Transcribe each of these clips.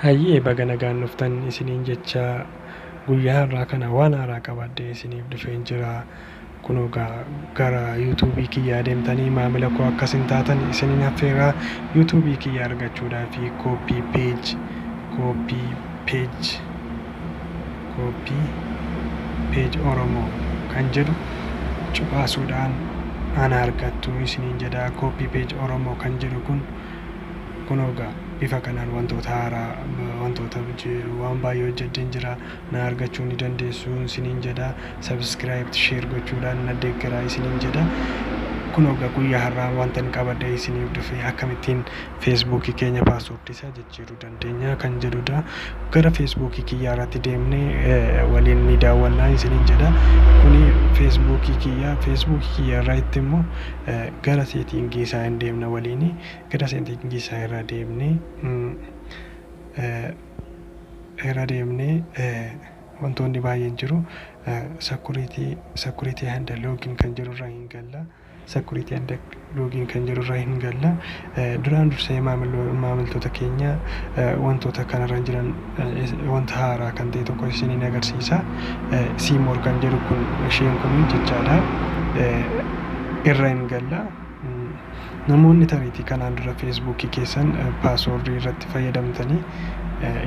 Hayyee baga nagaan dhuftan isiniin jechaa guyyaa har'aa kana waan haaraa qabadhee isiniif dhufeen jira. Kunoo gaa gara YouTube kiyyaa deemtanii maamila koo akka isin taatan isinin affeerraa YouTube kiyya argachuudhaa fi copy page copy page copy page oromoo kan jedhu cuqaasuudhaan ana argattu isinin jedha copy page oromoo kan jedhu kun kunoo gaa bifa kanaan wantoota haaraa wantoota waan baay'ee hojjedheen jira na argachuu ni dandeessu isiniin jedha subscribe share gochuudhaan na deeggaraa isiniin jedha kunoo ga guyyaa har'aa wantan qabadhee isiniif dhufe akkamittiin feesbuukii keenya paaswoordii isaa jijjiiruu dandeenya kan jedhudha gara feesbuukii kiyyaa irratti deemnee eh, waliin ni daawwannaa isiniin jedha kuni feesbuukii kiyyaa feesbuukii kiyyaa irraa itti immoo eh, gara seetiingii isaa hin deemna waliin gara seetiingii isaa irraa deemnee mm, eh, irra deemnee wantoonni baay'een jiru. Security security and login kan jedhu irra hin galla. Security and login kan jedhu irra hin galla. Duraan dursee maamilo- maamiltoota keenya eh, wantoota kanarra jiran eh, is- wanta haaraa kan ta'e tokko isiniin agarsiisa. Siimoor kan jedhu kun isheen kun jechaadha. Eh, Irra hin galla. Namoonni tariitii kanaan dura feesbuukii keessan paaswoordii irratti fayyadamtanii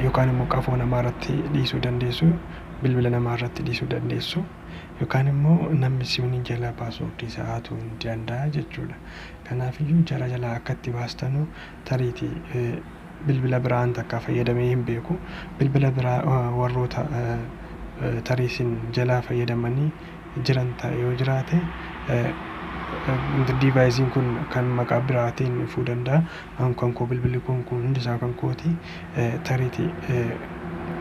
yookaan immoo qafoo namaa irratti dhiisuu dandeessu, bilbila namaa irratti dhiisuu dandeessu yookaan immoo namni si waliin jalaa paaswoordii isaa hatuu ni danda'a jechuudha. Kanaafiyyuu jara jalaa akka itti baastanu tariiti bilbila biraan takka fayyadamee hin beeku bilbila biraa warroota tarii isin jalaa fayyadamanii jiran ta'e yoo jiraate diivaayiziin kun kan maqaa biraatiin dhufuu danda'a an kan koo bilbilli kun kun hundi isaa kan kooti tariiti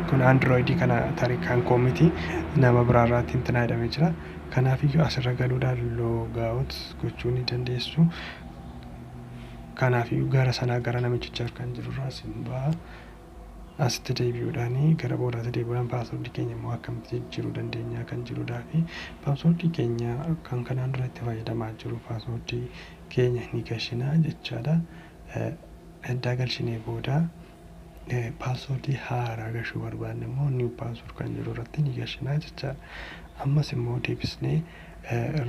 kun androidii kana tarii kan koo miti nama biraa irraatti hin tinaayidhamee jira kanaaf iyyuu asirra galuudhaan loogaawut gochuu ni dandeessu Kanaafiyyuu gara sanaa gara namichicha harkaan jiru irraa sin ba'a. Asitti deebi'uudhaan gara boodaatti deebi'uudhaan paaswordii keenya immoo akkamitti jijjiiruu dandeenya kan jedhudhaa fi paaswordii keenya kan kanaan dura itti fayyadamaa jiru paaswordii keenya ni galchina jechaadha. Eddaa galchinee booda Password haaraa gashuu barbaanne immoo new password kan jedhu irratti ni gashinaa jechaadha. Ammas immoo deebisnee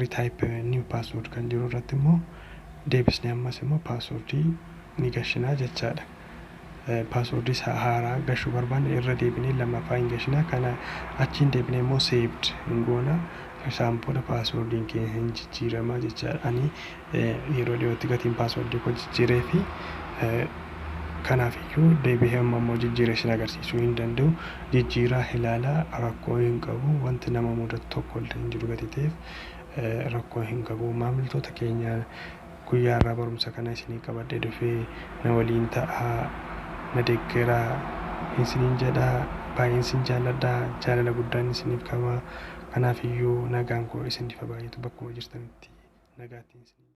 retype new password kan jedhu irratti immoo deebisnee ammas immoo password ni gashinaa jechaadha. Password isaa haaraa gashuu barbaanne irra deebinee lammaffaa hin gashinaa kana achiin deebinee immoo saved hin goona. Isaan booda password keenya hin jijjiiramaa jechaadha. Ani Yeroo dhiyootti gatiin paaswordii koo jijjiiree fi kanaaf iyyuu deebi'ee amma immoo jijjiiree isin agarsiisuu hin danda'u. Jijjiiraa ilaalaa rakkoo hin qabu. Wanti nama mudatu tokko illee hin jiru gatii ta'eef rakkoo hin qabu. Maamiltoota keenya guyyaa irraa barumsa kana isinii qabadhee dhufee na waliin ta'aa na deeggaraa isiniin jedhaa baay'een isin jaalladhaa jaalala guddaan isiniif qabaa. Kanaafiyyuu nagaan koo isiniif haa baay'atu bakkuma jirtanitti nagaattiin isiniin jedha.